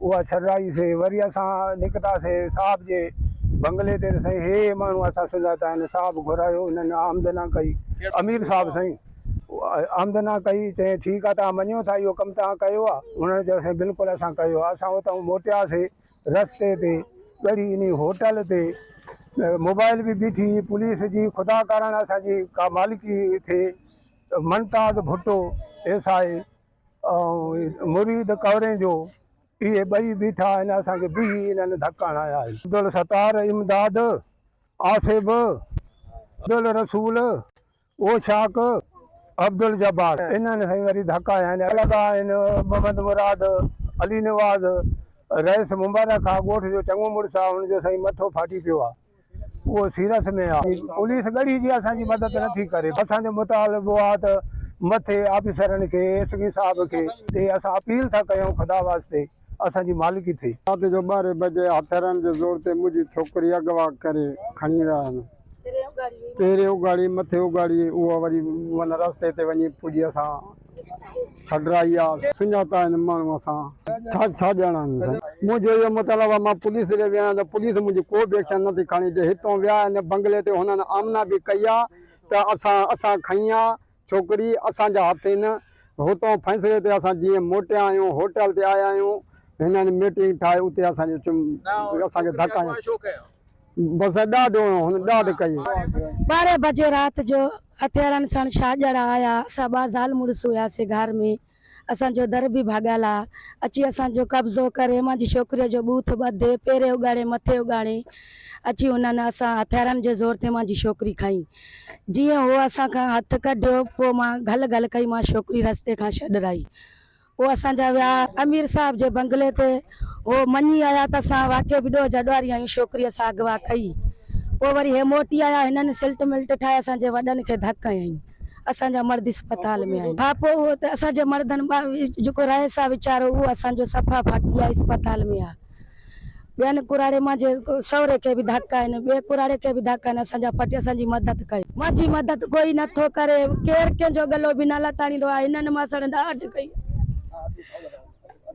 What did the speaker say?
اها ڇڏرائي سي وري اسان نڪتا سي صاحب جي بنگلي تي ته سائين هي ماڻهو اسان سڃاتا آهن صاحب گهرايو انهن آمدنا ڪئي امير صاحب سائين آمدنا ڪئي چيائين ٺيڪ آهي توهان مڃيو ٿا اهو ڪم توهان ڪيو آهي انهن چيو سائين بلڪل اسان ڪيو آهي اسان اتان موٽيا سي رستي تي ڳڙهي انهي هوٽل تي موبائل به بيٺي پوليس جي خدا ڪارڻ اسان جي ڪا مالڪي ٿئي منتاز ڀٽو ايس آء ۽ مريد ڪورين جو اهي ٻئي بيٺا آهن اسان کي بيهي انهن ڌڪ هڻايا آهن. عبدالستار امداد آصف عبدالرسول اوشاق عبدالجبار انهن سائين وري ڌڪ هنيا آهن لڳا آهن محمد مراد علي نواز رئيس مبارڪ آ ڳوٺ جو چڱو مڙس آ ان جو سائين مٿو ڦاٽي پيو آ. اهو سيرس ۾ آ. پوليس ڳڙهي جي اسان جي مدد نه ٿي ڪري. اسان جو مطالبو آ ته مٿي آفيسرن کي ايس پي صاحب کي ڏي اسان اپيل ٿا ڪيون خدا واسطي اسان جي مالڪي ٿي. رات جو ٻارهين بجي هٿيارن جي زور تي منهنجي ڇوڪري اغوا ڪري کڻي ويا آهن. پهرين اگهاڙي مٿي اگهاڙي اهو وري ان رستي تي وڃي پڄي اسان. ڇڏرا ايا سڃاتا آهن ماڻهو سان ڇا ڇا ڄاڻان آهن سائين منهنجو اهو مطلب آهي مان پوليس ڏي ويو آهيان ته پوليس منهنجي ڪو به ايڪشن نٿي کڻي جي هتون ويا ان بنگلي تي هنن آمنا به ڪئي آهي ته اسان اسان کنئي آهي ڇوڪري اسان جا هٿ هن هتون فيصلي تي اسان جيئن موٽيا آهيون هوٽل تي آيا آهيون هنن ميٽنگ ٺاهي اتي اسان جو اسان کي ڌڪ آهي بس ڏاڍ هنيو هن ڏاڍ ڪئي. ٻارهن بجي رات جو هٿيارن ساڻ شاهجهڙا آيا اسان ٻه زال مڙس هياسين گهار ۾ اسان جو در به ڀاڳيل آ اچي اسان جو قبضو ڪري مانجي ڇوڪري جو ٻوٿ ٻڌي پيري اڳاڙي مٿي اڳاڙي اچي انهن اسان هٿيارن جي زور تي مانجي ڇوڪري کئي جيئن هو اسان کان هٿ ڪڍيو پوء مان گهل گهل ڪئي مان ڇوڪري رستي کان ڇڏرائي پوء اسان جا ويا امير صاحب جي بنگلي تي. هو مڃي آيا ته اسان واقعي به ڏوهه جا ڏوهاري آهيون. شوڪريء سان اغوا ڪئي. پوء وري هي موٽي آيا. هنن سلٽ ملٽ ٺاهي اسان جي وڏن کي ڌڪ هنيائين. اسان جا مرد اسپتال ۾ آهن. ها پوء اهو ته اسان جي مردن مان جيڪو رهيس آ ويچارو اهو اسان جو صفا ڦاٽي آهي اسپتال ۾ آ. ٻين ڪراڙي مان جي سهري کي به ڌڪ آهن ٻئي ڪراڙي کي به ڌڪ آهن اسان جا پٽ اسان جي مدد ڪئي. مان جي مدد ڪوئي نه ٿو ڪري ڪير ڪنهن جو ڳلو به نه لتاڙيندو آهي هنن ماسڙن ڏاڍ ڪئي آهي.